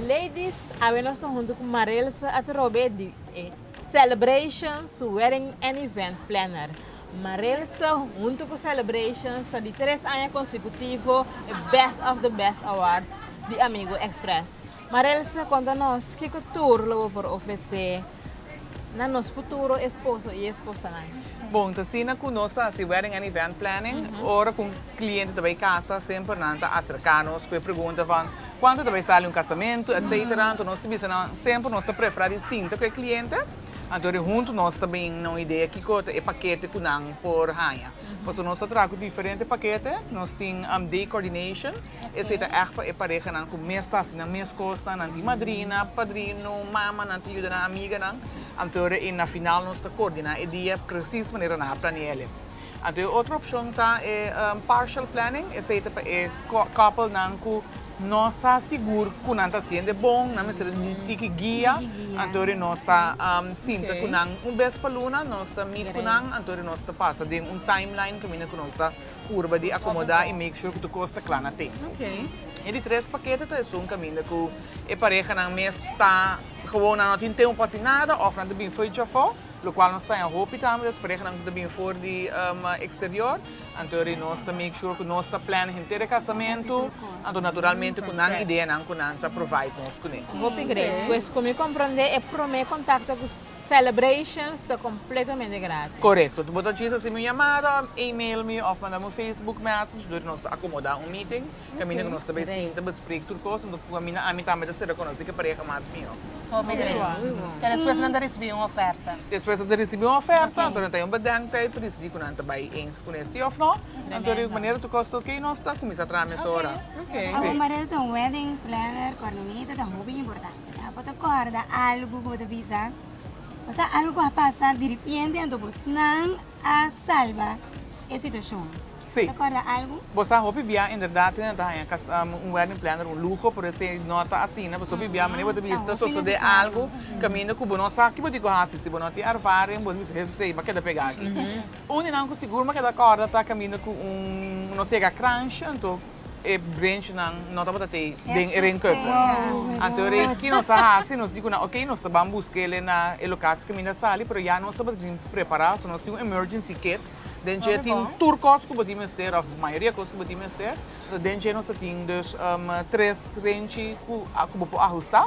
Ladies, awe nos ta huntu ku Marelsa Aterobe di e Celebrations Wedding and Event Planner. Marelsa huntu ku Celebrations ta di tres aña konsekutivo e Best of the Best Awards di Amigo Express. Marels a konta nos kiko tur lo bo por ofresé na nos futuro esposo i esposanan. Bon, ta asina ku nos ta hasi wedding and event planning. Ora ku un kliente ta bai kasa, semper nan ta aserká nos ku e pregunta van kuantu ta bai sali un kasamentu, etcetera. Anto nos ta bisa nan semper nos ta preferá di sinta ku e kliente. Anto di huntu nos ta bini na un idea kiko ta e pakete ku nan por haña. Pasobra nos ta traha ku diferente pakete. Nos tin day coordination. Esei ta ègt pa e parehanan ku mes ta hasi nan mes kosnan, nan tin madrina, padrino, mama, nan ta yuda nan amiganan. Anto ora ei na final nos ta koordiná e dia presis manera nan a planeále. Anto e otro opshon ta e partial planning, esei ta pa e koppelnan ku no sa sigur ku nan ta hasiende bon, nan mester un tiki guia. Anto ora nos ta sinta ku nan un bes pa luna, nos ta mit ku nan, anto ora nos ta pasa den un timeline kaminda ku nos ta. Purba di akomoda i make sure ku tur kos ta kla na tempu. E di tres pakete ta esun kaminda ku e parehanan mes ta gewoon nan no tin tempu pa hasi nada òf nan ta bin for di chofò, lokual nos ta haña hopi tambe los parehanan ku ta bin for di eksterior. Anto ri nos ta make sure ku nos ta plan henter e kasamentu, anto naturalmente ku nan ideanan ku nan ta provide nos kuné. Hopi gret. Pues ku mi komprondé e promé kontakto ku. Celebrations ta completamente gratis. Correcto. Bo ta djis haci mi un llamada, email mi of manda mi un Facebook message dor di nos ta acomoda un meeting caminda cu nos ta bay sienta besprek tur cos anto cu caminda ami tambe ta ser reconoci ca pareha mas mijo. Hopi great. Y despues nan ta ricibi un oferta. Despues nan ta ricibi un oferta anto nan ta hay un bedenktijd pa decidi cu nan ta bay eens cu nes si of no anto de manera tur cos ta ok nos ta cuminsa traha mesora. Bo merece un wedding planner coordinator ta hopi importante. Bo ta kòrda algu ku bo ta bisa? Pasá algu ku a pasa diripienti anto bosnan a salba e situashon? Sí. Ta kòrda algu? Bo sa hopi bia inderdat hopi nan ta haña kas un wedding planner un luho pero esei no ta asina pasobra hopi bia manera bo ta bisa ta sosodé algu kaminda ku bo no sa kiba di ku hasi si bo no tin ervaring bo ta bisa Hesus ey bo a keda pegá aki. Un di nan ku sigur mi a keda kòrda ta kaminda ku un no si ega crunch anto e brenchnan no tabata t'ei den e reencursor. Anto rei ki nos a hasi, nos di ku nan oke, nos ta ban buska el'e na e lokats kaminda a sali, pero ya nos tabata tin prepará, so nos tin un emergency kit, den dje tin tur kos ku bo tin mester òf mayoria kos ku bo tin mester. Den dje nos ta tin dus tres renchi ku bo por ahustá.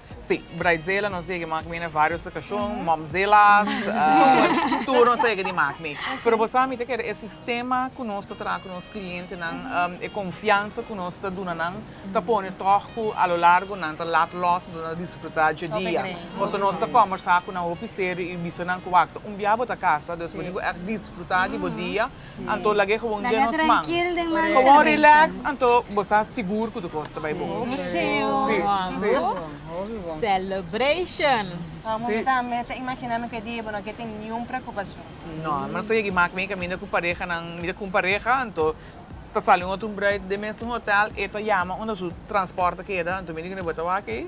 Sí, Bridezilla nos yeg'e makmi na varios okashon, Momzillas, tur nos a yeg'e di makmi. Pero bo sa mita keda e sistema ku nos ta traha ku nos klientenan, e konfiansa ku nos ta duna nan ta pone tòg ku a lo largo nan ta lat lòs i lo nan ta disfrutá dje dia. Pasobra nos ta kòmbersá ku nan hopi serio i bisa nan ku wak, un bia bo ta kasa, dus bo tin ku ègt disfrutá di bo dia. anto lag'é gewoon den nos man. Gewoon relax anto bo sa sigur ku tukos ta bai bon. Mi tambe ta imagináme ku e dia bo no ke tin niun preokupashon. No, mi no sa yegi mak mi kaminda ku parehanan, mi ta ku un pareha anto ta sali un otro bruid den mesun hotel e ta yama unda su transport ta keda anto mi di kende bo ta wak ei?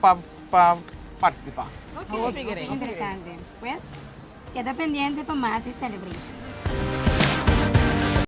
pa participá. Interesante. Pues, keda pendiente pa mas di Celebration.